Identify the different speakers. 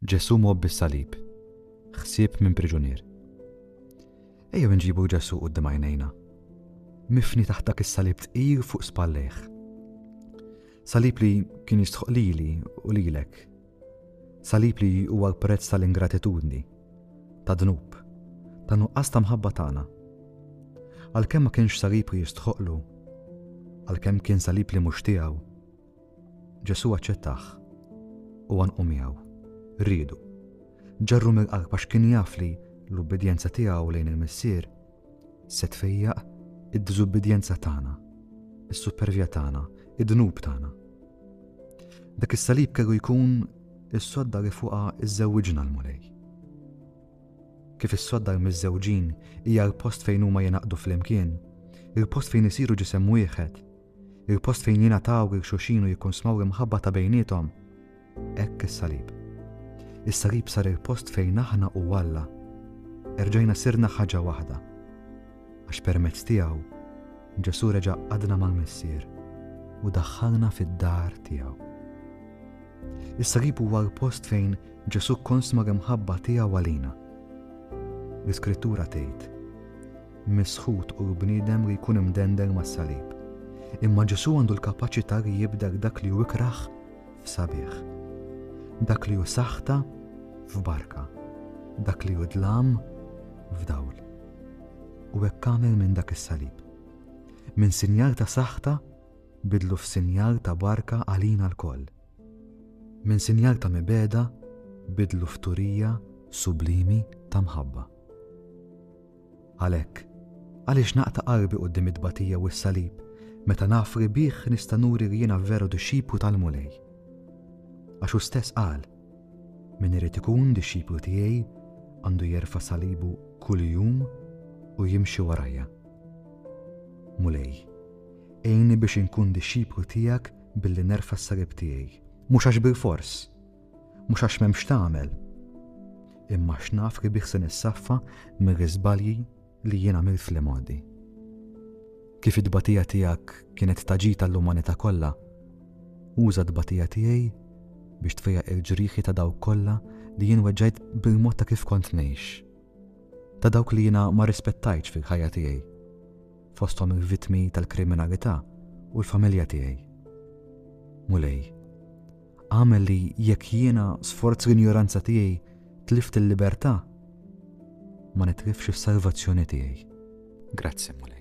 Speaker 1: Ġesù mgħobbi s-salib, ħsieb minn priġunier. Ejjew inġibu Ġesù quddiem għajnejna, mifni taħt dak is-salib tqil fuq spallejh. Salib li kien jistħoq lili u lilek. Salib li huwa l-prezz tal-ingratitudni, ta' dnub, ta' nuqqas ta' mħabba tagħna. Għalkemm ma kienx salib li jistħoqlu, għalkemm kien salib li mhux tiegħu, Ġesù aċċettah u għanqu miegħu. Riedu. Ġarru mill-qalb għax kien jaf li l-ubbidjenza tiegħu lejn il-Missier se tfejjaq id-diżubbidjenza tagħna, is-supervja tagħna, id-dnub tagħna. Dak is-salib kellu jkun is-sodda li fuqha iżżewġna l-Mulej. Kif is-sodda l-miżżewġin hija l-post fejn huma jenaqdu flimkien, il-post fejn isiru ġisem wieħed, il-post fejn jingħataw lil xulxin u jikkonsmaw l-imħabba ta' bejniethom. Hekk is-salib. Is-salib sar il-post fejn aħna u Alla erġajna sirna ħaġa waħda. Għax permezz tiegħu Ġesù reġa' qadna mal-Missier u daħħalna fid-dar tiegħu. Is-salib huwa l-post fejn Ġesù konsma l-imħabba tiegħu għalina. L-Iskrittura tgħid, misħut u l-bniedem li jkun imdendel mas-salib. Imma Ġesù għandu l-kapaċità li jibdel dak li hu ikrah f'sabiħ, dak li hu saħta f'barka, dak li hu dlam f'dawl. U hekk għamel minn dak is-salib. Minn sinjal ta' saħta bidlu f'sinjal ta' barka għalina l-koll. Minn sinjal ta' mibeda bidlu f'turija sublimi ta' mħabba. Għalhekk, għaliex naqta' qalbi quddiem it-tbatija u s-salib meta naf li bih nista' nuri li jiena veru dixxiplu tal-Mulej? Għax hu stess qal, Min irid ikun dixxiplu tiegħi għandu jerfa' salibu kuljum u jimxi warajja. Mulej, għinni biex inkun dixxiplu tiegħek billi nerfa' s-salib tiegħi, mhux għax bilfors, Mhux għax m'hemm x'tagħmel, imma x'naf li bih se nissaffa mir-riżbalji li jien għamilt fl-imgħoddi. Kif it-tbatija tiegħek kienet taġita l-umanità kollha, uża t-tbatija tiegħi biex tfejja il-ġrieħi ta' dawk kollha li jien weġġajt bil-mod ta' kif kont ngħix. Ta' dawk li jiena ma rispettajtx fil-ħajja tiegħi, fosthom il-vitmi tal-kriminalità u l-familja tiegħi. Mulej, Agħmel li jekk jiena sforz l-injoranza tiegħi tlift il-libertà, ma nitlifx is-salvazzjoni tiegħi. Grazzi, Mulej.